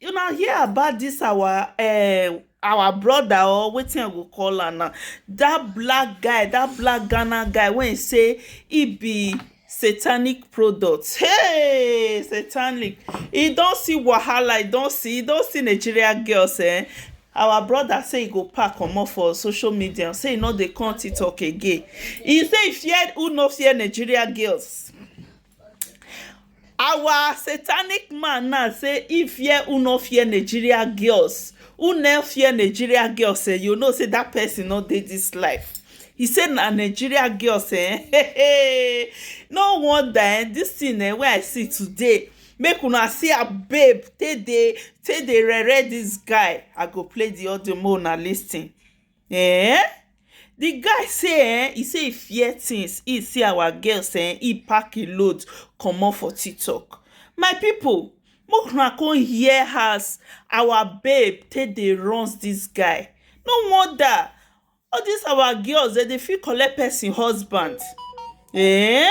una hear about this our uh, our brother or wetin i go call am now that black guy that black ghana guy wey say he be satanic product hey satanic he don see wahala he don see he don see nigeria girls eh our brother say he go pack comot for social media say he no dey come tiktok again he say he fear who no fear nigeria girls Our satanic man now say he fear who no fear Nigeria girls. Who no fear Nigeria girls eh, you know say that person no dey this life. He say na Nigeria girls eh, hey, hey. no wonder eh, this thing eh, wey I see today make una see her babe take dey take dey rere this guy. I go play the audio make una lis ten. um the guy say um he say he fear things he see our girls um he pack him load comot for tiktok my people make una come hear as our babe take dey runz this guy no wonder all this our girls dem dey fit collect person husband um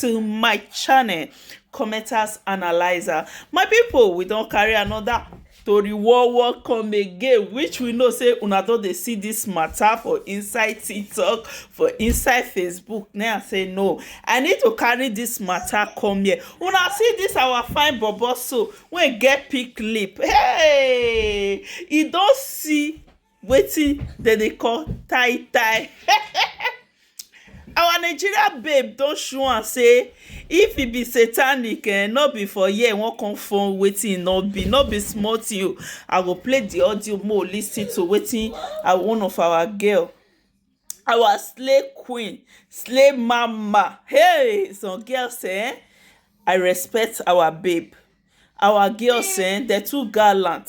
to my channel commenters analyzer my people we don carry another tori war war come again which we know say una don dey see this matter for inside tiktok for inside facebook now i say no i need to carry this matter come here una see this our fine bobo so wey get pink lip hey e don see wetin dem dey call tie tie our Nigeria babe don show am sey if e be satanic um no be for here e wan come form wetin e no be no be small thing oo I go play de audio make we lis ten to wetin one of our girl our slay queen slay mama hey some girls um I respect our babe our girls um dem too gallant.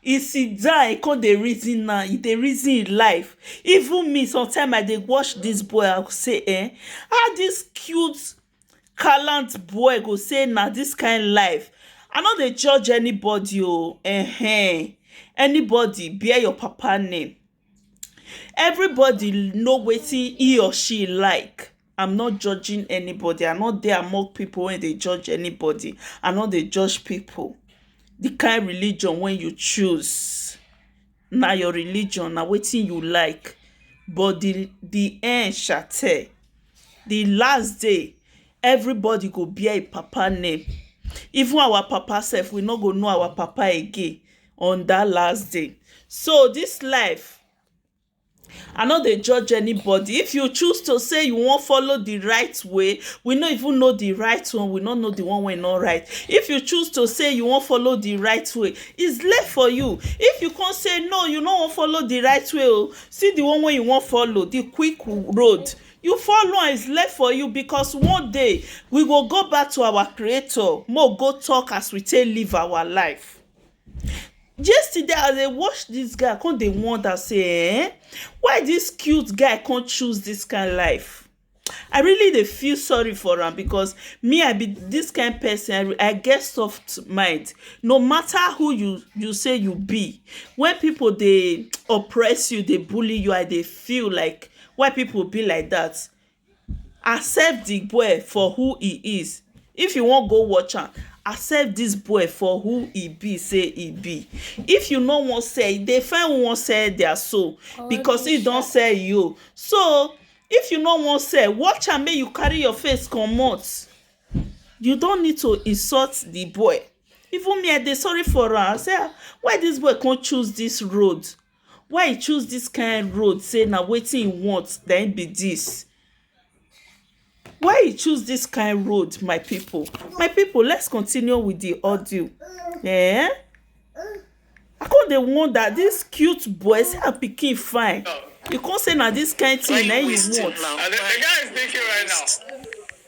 He sit down he come dey reason am, he dey reason him life even me sometimes I dey watch this boy I go say um how this cute gallant boy go say na this kind life I no dey judge anybody oo um anybody bear your papa name Everybody know wetin he or she like am not judging anybody am not dey among people wey dey judge anybody am not dey judge people the kind religion wey you choose na your religion na wetin you like but the the end shall tell the last day everybody go bear him papa name even our papa self we no go know our papa again on that last day. So this life, I know they judge anybody. If you choose to say you won't follow the right way, we not even know the right one, we not know the one way not right. If you choose to say you won't follow the right way, it's left for you. If you can't say no, you no won't follow the right way, oh, see the one way you won't follow, the quick road. You follow and it's left for you because one day we will go back to our creator. More go talk as we take live our life. Yesterday as I dey watch dis guy I come dey wonder sey um why dis cute guy come choose dis kind life I really dey feel sorry for am because me I be dis kind person I get soft mind no matter who you you sey you be when people dey oppress you dey bully you I dey feel like why people be like dat Accept the boy for who he is if you wan go watch am accept this boy for who he be say he be if you no wan sell e dey find who wan sell their soul because him don sell him own so if you no wan sell watch am make you carry your face comot you don't need to insult the boy even me I dey sorry for am I say ah why this boy come choose this road Why e choose dis kain road sey na wetin e want na im be dis? Why e choose dis kain road my pipu? My pipu let's continue with de audio um I come dey wonder dis cute boy see as pikin fine you come sey na dis kain thing na im you want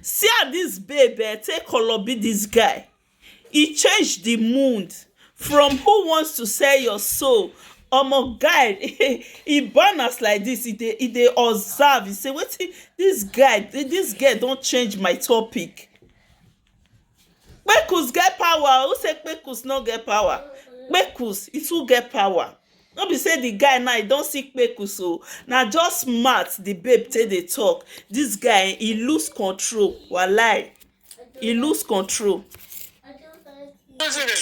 See as dis babe um take kolobi dis guy, e change di mood from who wants to sell your soul, omo guy e born as like dis e dey e dey observe e sey wetin dis guy dis girl don change my topic. Kpekus get power o, who say kpekus no get power? Kpekus e too get power, no be sey di guy now e don see kpekus o, na just mouth di babe take dey talk, dis guy e loose control walahi, e loose control,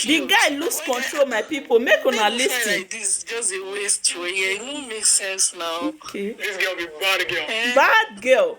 di guy loose control my pipu make una lis ten. Okay. Bad girl.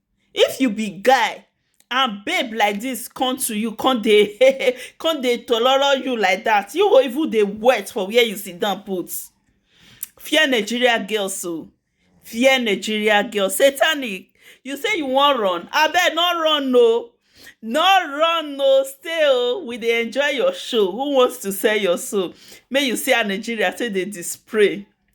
If you be guy and babe like dis come to you come dey um come dey tololo you like dat, you go even dey wet for where you sit down put. Fear Nigeria girls o, fear Nigeria girls. Satanic you say you wan run, abeg no run o, no run o, stay o, we dey enjoy your show. Who wants to sell your soul? Make you see as Nigeria take dey display.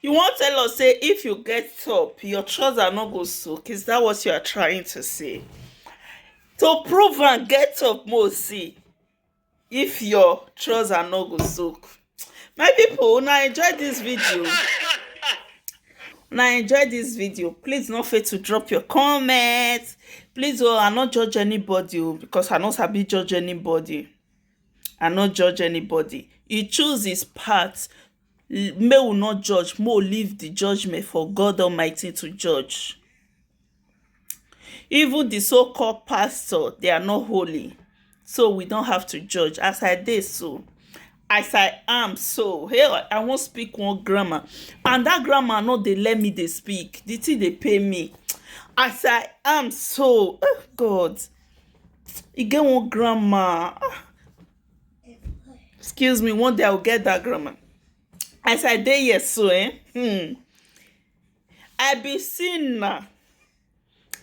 You wan tell us say if you get top, your trouser no go soak? Is that what you are trying to say? To prove and get up, mo see if your trouser no go soak. My people, una enjoy this video. Una enjoy this video. Please no fail to drop your comments. Please, oh, I no judge anybody oh, because I no sabi judge anybody. I no judge anybody. He choose his path Make we no judge, make we leave di judgement for God Almighty to judge. Even di so called pastor they are not holy so we don't have to judge as I dey so as I am so hey I wan speak one grammar and dat grammar no dey let me dey speak di thing dey pain me as I am so ah God e get one grammar ah excuse me one day i will get that grammar as i dey here so eh hmm, i be sinner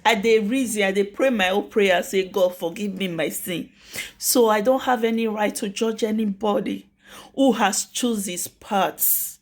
i dey reason i dey pray my own prayer say god forgive me my sin so i don't have any right to judge anybody who has choose his paths